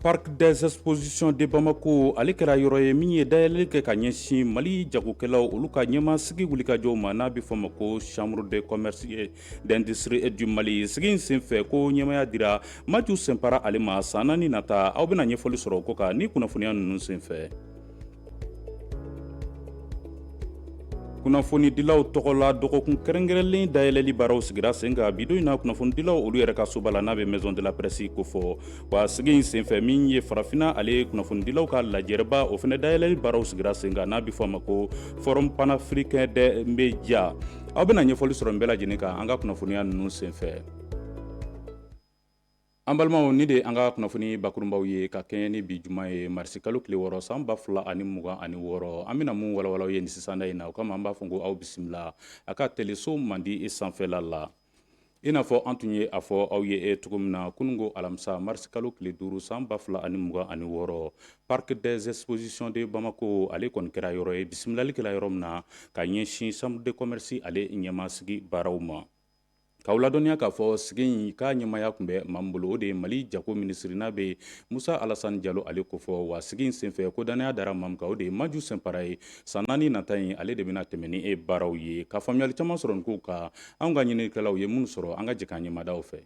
Parc des expositions de Bamako ale kɛra yɔrɔ ye min ye dayɛlɛli kɛ ka ɲɛsin Mali jagokɛlaw olu ka ɲɛmaasigi wulikajɔw ma n'a bɛ fɔ ma ko chambre de commerce et d'industrie et du Mali sigi in senfɛ ko ɲɛmaya dira Maju Sɛnpara ale ma san naani nata aw bɛna ɲɛfɔli sɔrɔ o ko kan ni kunnafoniya ninnu senfɛ. kunnafonidilaw tɔgɔla dɔgɔkun kɛrɛnkɛrɛnlen dayɛlɛli baaraw sigira sen kan bi don in na kunnafonidilaw olu yɛrɛ ka soba la n'a bɛ maison de la presse ko fɔ wa sigi in senfɛ min ye farafina ale ye kunnafonidilaw ka lajɛrɛba o fana dayɛlɛli baaraw sigira sen kan n'a bɛ fɔ a ma ko forum panafricain des médias aw bɛna ɲɛfɔli sɔrɔ nin bɛɛ lajɛlen kan an ka kunnafoniya ninnu senfɛ an balimaw ni de an ka kunnafoni bakurunbaw ye ka kɛɲɛ ni bi juma ye marisi kalo tile wɔɔrɔ san ba fila ani mugan ani wɔɔrɔ an bɛna mun walawala aw ye ni sisanda in na o kama an b'a fɔ ko aw bisimila a ka teleso mandi e sanfɛla la i n'a fɔ an tun ye a fɔ aw ye e cogo min na kununko alamisa marisi kalo tile duuru san ba fila ani mugan ani wɔɔrɔ Parc des expositions de Bamako ale kɔni kɛra yɔrɔ ye bisimilali kɛra yɔrɔ min na ka ɲɛsin chambre de commerce ale ɲɛmaasigi baaraw ma K'aw ladɔnniya k'a fɔ sigi in k'a ɲɛmaya tun bɛ maa min bolo o de ye mali jago minisiri n'a bɛ musa alasan jalo ale ko fɔ wa sigi in senfɛ ko dannaya dara maa min kan o de ye maju sɛnpara ye san naani nata in ale de bɛna tɛmɛn ni e baaraw ye ka faamuyali caman sɔrɔ nin kow kan an ka ɲininikɛlaw ye minnu sɔrɔ an ka jɛ k'an ɲɛmada u fɛ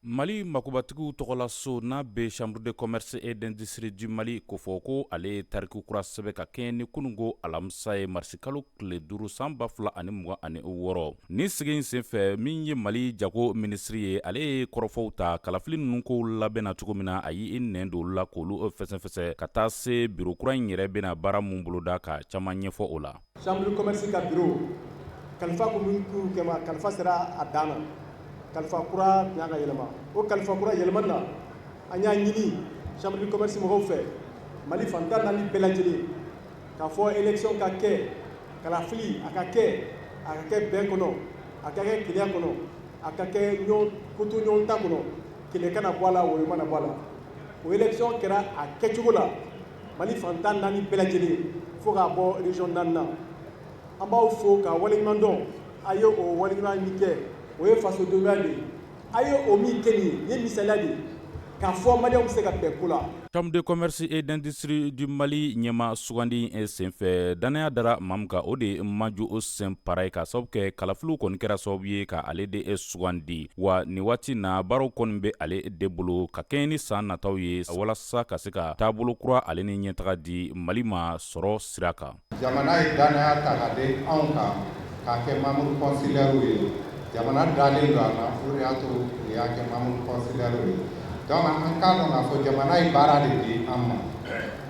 Mali makobatigiw tɔgɔlaso n'a bɛ chambre de commerce et d'industrie du Mali ko fɔ ko ale ye tariku kura sɛbɛn ka kɛɲɛ ni kununko alamisa ye marisikalo tile duuru san ba fila ani mugan ani wɔɔrɔ nin sigi in senfɛ min ye Mali jago minisiri ye ale ye kɔrɔfɔw ta kalafili ninnu kow labɛnna cogo min na a y'i nɛn don olu la k'olu fɛsɛfɛsɛ ka taa se biro kura in yɛrɛ bɛna baara min boloda ka caman ɲɛfɔ o la. Chambre de commerce ka biro kalifa ko min kɛ ma kalifa sera a dan na kalifa kura tun ka kan ka yɛlɛma o kalifa kura yɛlɛmani na an y'a ɲini chambre de commerce mɔgɔw fɛ mali fan tan naani bɛɛ lajɛlen k'a fɔ élection ka kɛ kalafili a ka kɛ a ka kɛ bɛn kɔnɔ a ka kɛ kelenya kɔnɔ a ka kɛ koto ɲɔgɔn ta kɔnɔ kɛlɛ kana bɔ a la woyo mana bɔ a la o élection kɛra a kɛcogo la mali fan tan naani bɛɛ lajɛlen fo k'a bɔ région naani na an b'aw fo ka waleɲuman dɔn a ye o waleɲuman min kɛ o ye fasodenya de ye a ye o min kɛ nin ye misaliya de ye k'a fɔ maliyɛnw bɛ se ka bɛn ko la Chambre de commerce et d'industrie du Mali ɲɛmaa sugandi senfɛ, dannaya dara maa min kan, o de ye Maju sɛnpara ye k'a sababu kɛ kalafiliw kɔni kɛra sababu ye ka ale de e sugandi wa nin waati na baaraw kɔni bɛ ale de bolo ka kɛɲɛ ni san nataw ye walasa ka se ka taabolo kura ale ni ɲɛtaga di mali ma sɔrɔ sira kan jamana ye dannaya ta k'a da anw kan k'a kɛ membre consulaire ye jamana dalen don an na o de y'a to u y'a kɛ membre consulaire ye donc an k'a dɔn k'a fɔ jamana ye baara de di an ma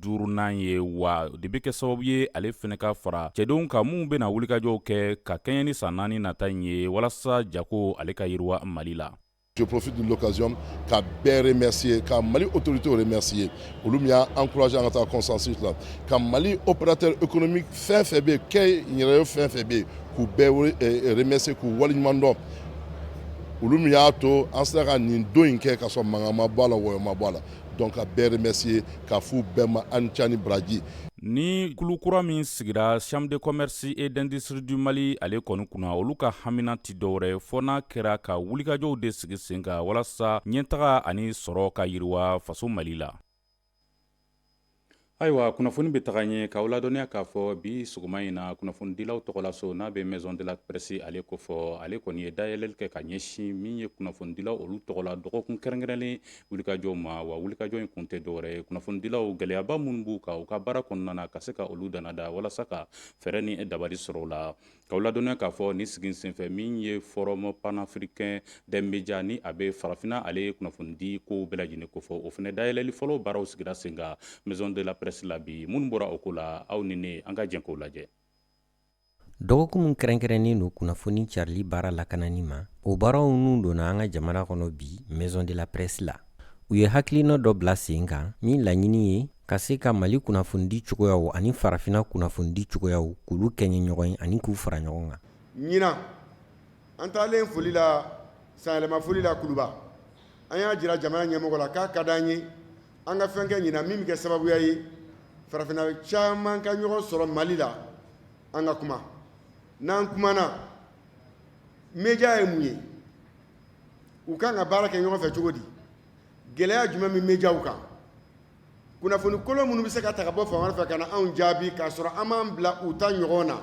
duurunan ye wa de bɛ kɛ sababu ye ale fɛnɛ ka fara cɛdenw kan minnu bɛna wulikajɔw kɛ ka kɛɲɛ ni san naani nata in ye walasa jago ale ka yiriwa mali la je profite de l'occasion ka bɛɛ remercier ka mali autorité remercier olu min y'an encourager an ka taa consensus la ka mali opérateur économique fɛn fɛn bɛ kɛ yɛrɛ fɛn fɛn bɛ yen k'u bɛɛ remercier k'u waleɲuman dɔn olu min y'a to an sera ka nin don in kɛ ka sɔrɔ mankan ma bɔ a la wɔyɔ ma bɔ a la Donc ka bɛɛ remercier k'a f'u bɛɛ ma a ni ce a ni baraji ni kulu kura min sigira chambre de commerce et d'industrie du mali ale kɔni kunna olu ka hamiina tɛ dɔwɛrɛ fɔ n'a kɛra ka wulikajɔw de sigi sen kan walasa ɲɛtaga ani sɔrɔ ka yiriwa faso mali la Ayiwa kunnafoni bɛ taga ɲɛ k'aw ladɔnniya k'a fɔ bi sɔgɔma in na kunnafonidilaw tɔgɔlaso n'a bɛ maison de la presse ale kofɔ ale kɔni ye dayɛlɛli kɛ ka ɲɛsin min ye kunnafonidilaw olu tɔgɔ la dɔgɔkun kɛrɛnkɛrɛnnen wulikajɔw ma wa wulikajɔ in kun tɛ dɔwɛrɛ ye kunnafonidilaw gɛlɛyaba minnu b'u kan u ka baara kɔnɔna na ka se ka olu dannada walasa ka fɛɛrɛ ni dabali sɔrɔ o la K'aw ladɔnniya k'a fɔ nin sigi in senfɛ min ye forum panafricain des médias ni a bɛ farafinna ale ye kunnafonidi ko bɛɛ lajɛlen kofɔ o fana dayɛlɛli fɔlɔ baaraw sigira sen kan maison de la presse la bi minnu bɔra o ko la aw ni ne an ka jɛ k'o lajɛ dɔgɔkun kɛrɛnkɛrɛnnen don kunnafoni carili baara lakanani ma o baaraw ninnu donna an ka jamana kɔnɔ bi maison de la presse la u ye hakilina dɔ bila sen kan min laɲini ye ka se ka mali kunnafonidi cogoyaw ani farafina kunnafonidi cogoyaw k'olu kɛɲɛ ɲɔgɔn ye ani k'u fara ɲɔgɔn kan ɲinan an taalen foli la sanyɛlɛma foli la kuluba an y'a jira jamana ɲɛmɔgɔ la k'a ka di an ye an ka fɛn kɛ ɲinan min bɛ kɛ sababuya ye farafina caman ka ɲɔgɔn sɔrɔ mali la an ka kuma n'an kumana média ye mun ye u ka kan ka baara kɛ ɲɔgɔn fɛ cogo di gɛlɛya jumɛn bɛ médiaw kan kunnafoni kolon minnu bɛ se ka ta ka bɔ fan wɛrɛ fɛ ka na anw jaabi k'a sɔrɔ an m'an bila u ta ɲɔgɔn na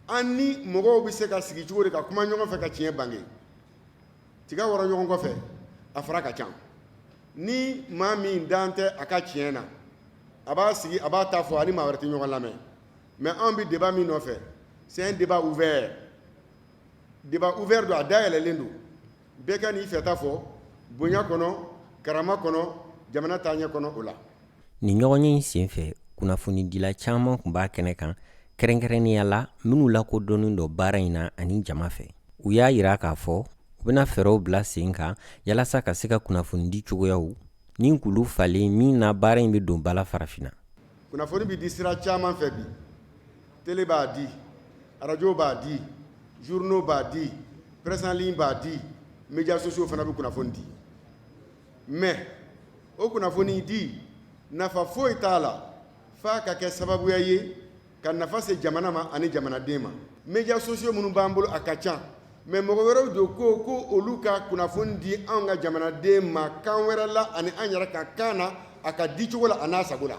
an ni mɔgɔw bɛ se ka sigi cogo di ka kuma ɲɔgɔn fɛ ka tiɲɛ bange tiga wɔrɔ ɲɔgɔn kɔfɛ a fara ka ca ni maa min dan tɛ a ka tiɲɛ na a b'a sigi a b'a ta fɔ ani maa wɛrɛ tɛ ɲɔgɔn lamɛn mais anw bɛ débat min nɔfɛ c'est un débat ouvert débat ouvert don a da yɛlɛlen don bɛɛ ka n'i fɛta fɔ bonya kɔnɔ karama kɔnɔ jamana taaɲɛ kɔnɔ o la nin ɲɔgɔnye in senfɛ kunnafonidila caman kun b'a kɛnɛ kan kɛrɛnkɛrɛnnenya la minnu lakodɔnnen don baara in na ani jama fɛ u y'a jira k'a fɔ u bɛna fɛɛrɛw bila sen kan yalasa ka se ka kunnafonidi cogoyaw ni kulu falen min na baara in bɛ don ba la farafinna kunnafoni bɛ di sira caman fɛ bi tele b'a di arajo b'a di journaux b'a di presse en ligne b'a di médias sociaux fana bɛ kunnafoni di mais o kunnafoni di nafa foyi t'a la f'a ka kɛ sababuya ye ka nafa se jamana ma ani jamanaden ma médias sociaux minnu b'an bolo a ka ca mais mɔgɔ wɛrɛw don ko ko olu ka kunnafoni di an ka jamanaden ma kan wɛrɛ la ani an yɛrɛ ka kan na a ka di cogo la an'a sago la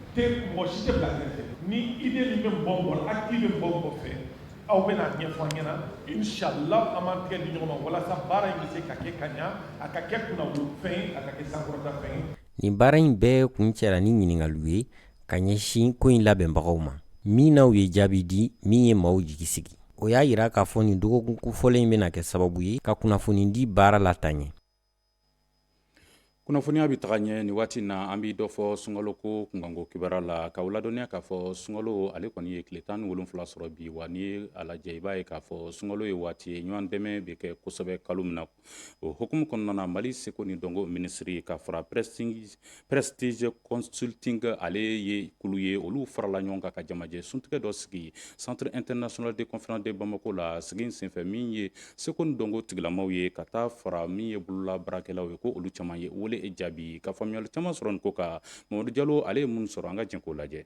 te mɔgɔ si tɛ bila kɛrɛfɛ ni idée min bɛ mɔgɔ mɔgɔ la acte bɛ mɔgɔ mɔgɔ fɛ aw bɛna a ɲɛfɔ an ɲɛna inshallah an b'an tɛgɛ di ɲɔgɔn ma walasa baara in bɛ se ka kɛ ka ɲa a ka kɛ kunnawolofɛn ye a ka kɛ sankɔrɔtafɛn ye nin baara in bɛɛ kuncɛra ni ɲininkaliw ye ka ɲɛsin ko in labɛnbagaw ma min na u ye jaabi di min ye maaw jigi sigi o y'a jira k'a fɔ nin dɔgɔkun kofɔlen in bɛna kɛ sababu ye ka kunnafonidi baara lataaɲɛ kunnafoniya bɛ taga ɲɛ nin waati in na an bɛ dɔ fɔ sunkalo ko kunkanko kibaruya la k'aw ladɔnniya k'a fɔ sunkalo ale kɔni ye tile tan ni wolonwula sɔrɔ bi wa n'i ye a lajɛ i b'a ye k'a fɔ sunkalo ye waati ye ɲɔgɔn dɛmɛ bɛ kɛ kosɛbɛ kalo min na o hukumu kɔnɔna na Mali seko ni dɔnko minisiri ka fara prɛsi Prestige consulting ale ye kulu ye olu farala ɲɔgɔn kan ka jamajɛ suntigɛ dɔ sigi centre international de conférence de Bamako la sigi in senfɛ min ye seko ni dɔnko tigilamaw ye ka taa fara min ye bolola baarakɛlaw ye ko olu caman ye wele jaabi ka faamuyali caman sɔrɔ nin ko kan Mamadu Jalo ale ye min sɔrɔ an ka jɛn k'o lajɛ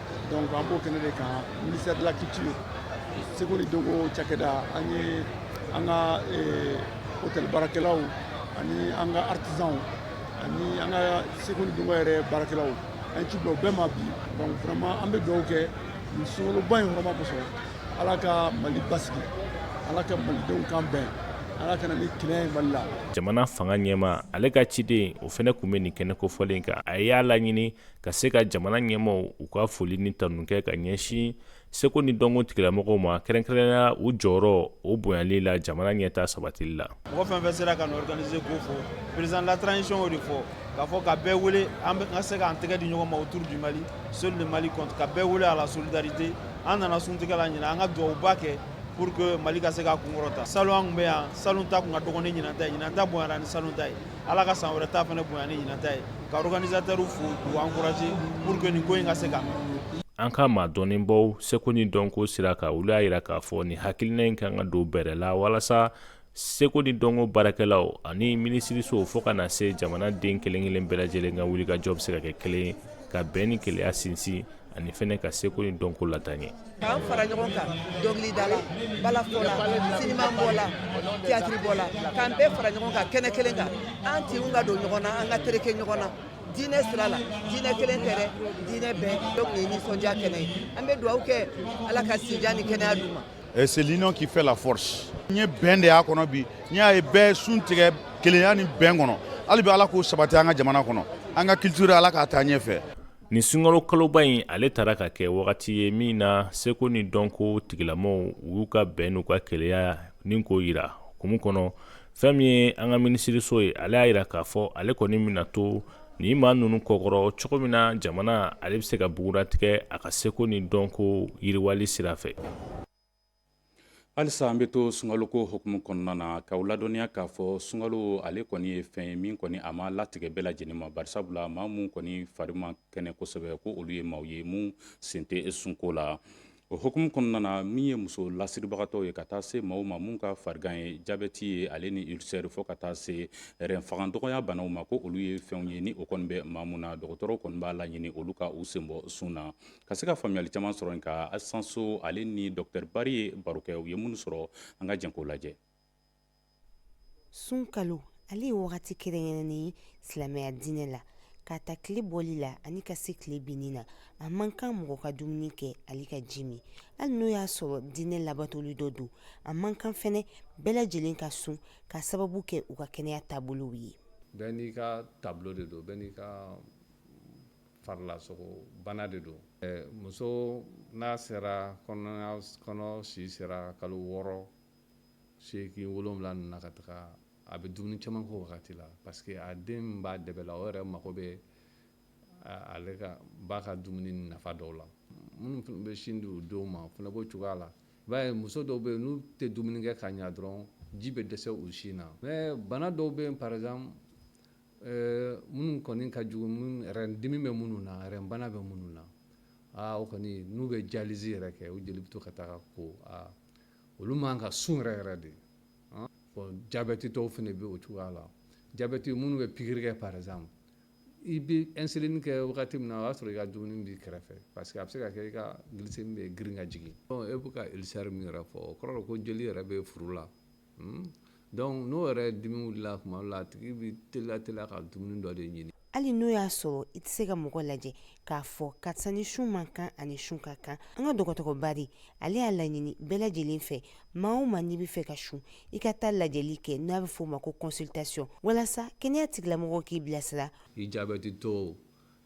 donc an b'o kɛnɛ de kan ministère de la culture seko ni dɔnko cakɛda an ye an ka eh, hôtel baarakɛlaw ani an ka artisanw ani an ka seko ni dɔnko yɛrɛ baarakɛlaw an ye ci bila u bɛɛ ma bi donc vraiment an bɛ dugawu kɛ nin sunkaloba in hɔrɔma kosɔn ala ka mali basigi ala ka malidenw kan bɛn ala ka na ni hɛrɛ ye mali la jamana fanga ɲɛmaa ale ka ciden o fɛnɛ kun bɛ nin kɛnɛ kofɔlen kan a y'a laɲini ka se ka jamana ɲɛmaaw u ka foli ni tanu kɛ ka ɲɛsin seko ni dɔnko tigilamɔgɔw ma kɛrɛnkɛrɛnnenya u jɔyɔrɔ o bonyali la jamana ɲɛtaa sabatili la mɔgɔ fɛn fɛn sera ka nin organiser ko fɔ président de la transition de fɔ k'a fɔ ka bɛɛ wele an ka se k'an tɛgɛ di ɲɔgɔn ma autour du Mali seul le Mali compte ka bɛɛ wele à la solidarité an nana suntigɛ la ɲinan an ka dugawuba kɛ pour que mali ka se ka kunkɔrɔta salon an kun bɛ yan salon ta kun ka dɔgɔn ni ɲinan ta ye ɲinan ta bonyara ni salon ta ye ala ka san wɛrɛ ta fana bonya ni ɲinan ta ye ka organisateurs fo k'u encourager pour que nin ko in ka se ka an ka maa dɔnnenbaw seko ni dɔnko sira kan olu y'a yira k'a fɔ nin hakilina in kan ka don bɛrɛ la walasa seko ni dɔnko baarakɛlaw ani minisiriso fɔɔ ka na se jamana den kelen kelen bɛɛ lajɛlen ka wulikajɔ bɛ se ka kɛ kelen ye ka bɛn ni keleya sinsin ani fɛnɛ ka seko ni dɔnko lataa ɲɛ k'an fara ɲɔgɔn kan dɔnkilidala balafɔla sinimabɔla tiyatiribɔla k'an bɛɛ fara ɲɔgɔn kan kɛnɛ kelen kan an tinw ka don ɲɔgɔn na an ka tereke ɲɔgɔn na diinɛ sira la diinɛ kelen tɛ dɛ diinɛ bɛɛ donc nin ye nisɔndiya kɛnɛ ye an bɛ dugawu kɛ ala ka si jan ni kɛnɛya d'u ma eh, c'est l'union qui fait la force n ye bɛn de y'a kɔnɔ bi n y'a ye bɛɛ sun tigɛ kelenya ni bɛn kɔnɔ hali bi ala k'o sabati an ka jamana kɔnɔ an ka culture ala k'a taa ɲɛfɛ Nin sunkalo kaloba in ale taara ka kɛ wagati ye min na seko ni dɔnko tigilamɔgɔw u y'u ka bɛn n'u ka keleya ni k'o yira hukumu kɔnɔ fɛn min ye an ka minisiriso ye ale y'a yira k'a fɔ ale kɔni bɛna to nin maa ninnu kɔkɔrɔ cogo min na jamana ale bɛ se ka bugunnatigɛ a ka seko ni dɔnko yiriwali sira fɛ halisa an bɛ to sunkaloko hukumu kɔnɔna na k'aw ladɔnniya k'a fɔ sunkalo ale kɔni ye fɛn ye min kɔni a ma latigɛ bɛɛ lajɛlen ma bari sabula maa minnu kɔni fari man kɛnɛ kosɛbɛ ko olu ye maaw ye minnu sen tɛ sunko la o hukumu kɔnɔna na min ye muso lasiribagatɔw ye ka taa se maaw ma minnu ka farigan ye jabeti ye ale ni ulcère fɔ ka taa se rein fanga dɔgɔya banaw ma ko olu ye fɛnw ye ni o kɔni bɛ maa minnu na dɔgɔtɔrɔw kɔni b'a laɲini olu ka u sen bɔ sun na Ka se ka faamuyali caman sɔrɔ an ka Asan So ale ni dɔkitɛri Bari ye baro kɛ u ye minnu sɔrɔ an ka jɛn k'o lajɛ sunkalo ale ye wagati kɛrɛnkɛrɛnnen ye silamɛya diinɛ la k'a ta tile bɔli la ani ka se tile binni na a man kan mɔgɔ ka dumuni kɛ ale ka ji min hali n'o y'a sɔrɔ diinɛ labatoli dɔ don a man kan fɛnɛ bɛɛ lajɛlen ka sun ka sababu kɛ u ka kɛnɛya taabolow ye bɛɛ n'i ka taabolo de don bɛɛ n'i ka farilasogo bana de don muso n'a sera kɔnɔ si sera kalo wɔɔrɔ segin wolonwula na ka taga a bɛ dumuni caman k'o wagati la parce que a den b'a dɛbɛ la o yɛrɛ mago bɛ ale ka ba ka dumuni nafa dɔw la minnu bɛ sin di u denw ma o fana b'o cogoya la i b'a ye muso dɔw bɛ yen n'u tɛ dumuni kɛ ka ɲa dɔrɔn ji bɛ dɛsɛ u sin na mais bana dɔw bɛ yen par exemple Ɛɛ minnu kɔni ka jugu dimi bɛ minnu na bana bɛ minnu na aa o kɔni n'u bɛ dialyse yɛrɛ kɛ u jeli bɛ to ka taa ko aa olu man ka sun yɛrɛ yɛrɛ de jabetitɔw fana bɛ o cogoya la jabeti minnu bɛ pikiri kɛ par exemple i bɛ insuline kɛ wagati min na o y'a sɔrɔ i ka dumuni b'i kɛrɛfɛ parce que a bɛ se ka kɛ i ka glycémie bɛ girin ka jigin e bɛ ka ulcère min yɛrɛ fɔ o kɔrɔ ko jeli yɛrɛ bɛ furu la Hmm? Donc n'o yɛrɛ dimi wulila tuma dɔ la a tigi bɛ teliya teliya ka dumuni dɔ de ɲini. hali n'o y'a sɔrɔ i tɛ se ka mɔgɔ lajɛ k'a fɔ karisa ni sun man kan ani sun ka kan an ka dɔgɔtɔrɔ Bari ale y'a laɲini bɛɛ lajɛlen fɛ maa o maa n'i bɛ fɛ ka sun i ka taa lajɛli kɛ n'a bɛ f'o ma ko consultation walasa kɛnɛya tigilamɔgɔw k'i bilasira i jabɛtitɔw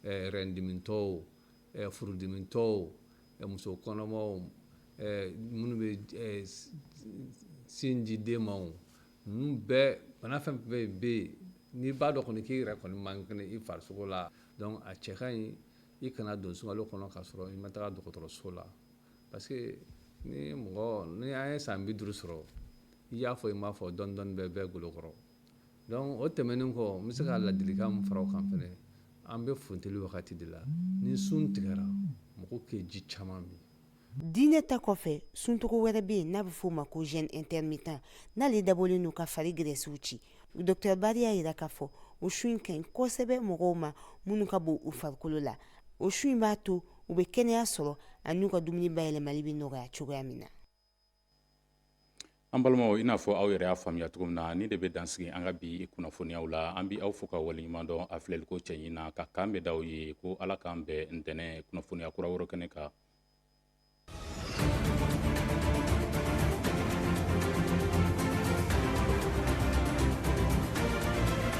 eh, rɛndimitɔw furudimitɔw muso kɔnɔmaw minnu bɛ sin di den ma ninnu bɛɛ bana fɛn fɛn bɛ yen n'i b'a dɔn kɔni k'i yɛrɛ kɔni man kɛnɛ i farisogo la donc a cɛ ka ɲi i kana don sunkalo kɔnɔ k'a sɔrɔ i ma taga dɔgɔtɔrɔso la parce que ni mɔgɔ n'an ye san bi duuru sɔrɔ i y'a fɔ i m'a fɔ dɔɔni dɔɔni bɛ bɛɛ golo kɔrɔ Donc o tɛmɛnen kɔ n bɛ se ka ladilikan min fara o kan fɛnɛ an bɛ funteni wagati de la ni sun tigɛra mɔgɔw ka ji caman min diinɛ ta kɔfɛ suncogo wɛrɛ bɛ yen n'a bɛ f'o ma ko jeûne intermittent n'ale dabɔlen don ka fari gɛrɛsiw ci docteur Bari y'a jira k'a fɔ o sun in ka ɲi kosɛbɛ mɔgɔw ma minnu ka bon u farikolo la o sun in b'a to u bɛ kɛnɛya sɔrɔ ani u ka dumuni bayɛlɛmali bɛ nɔgɔya cogoya min na An balimaw i n'a fɔ aw yɛrɛ y'a faamuya cogo min na nin de bɛ dan sigi an ka bi kunnafoniyaw la an bɛ aw fo ka waleɲuman dɔn a filɛliko cɛɲi na ka kan bɛ da aw ye ko ala k'an bɛn ntɛnɛn kunnafoniya kura wɛrɛ kɛnɛ kan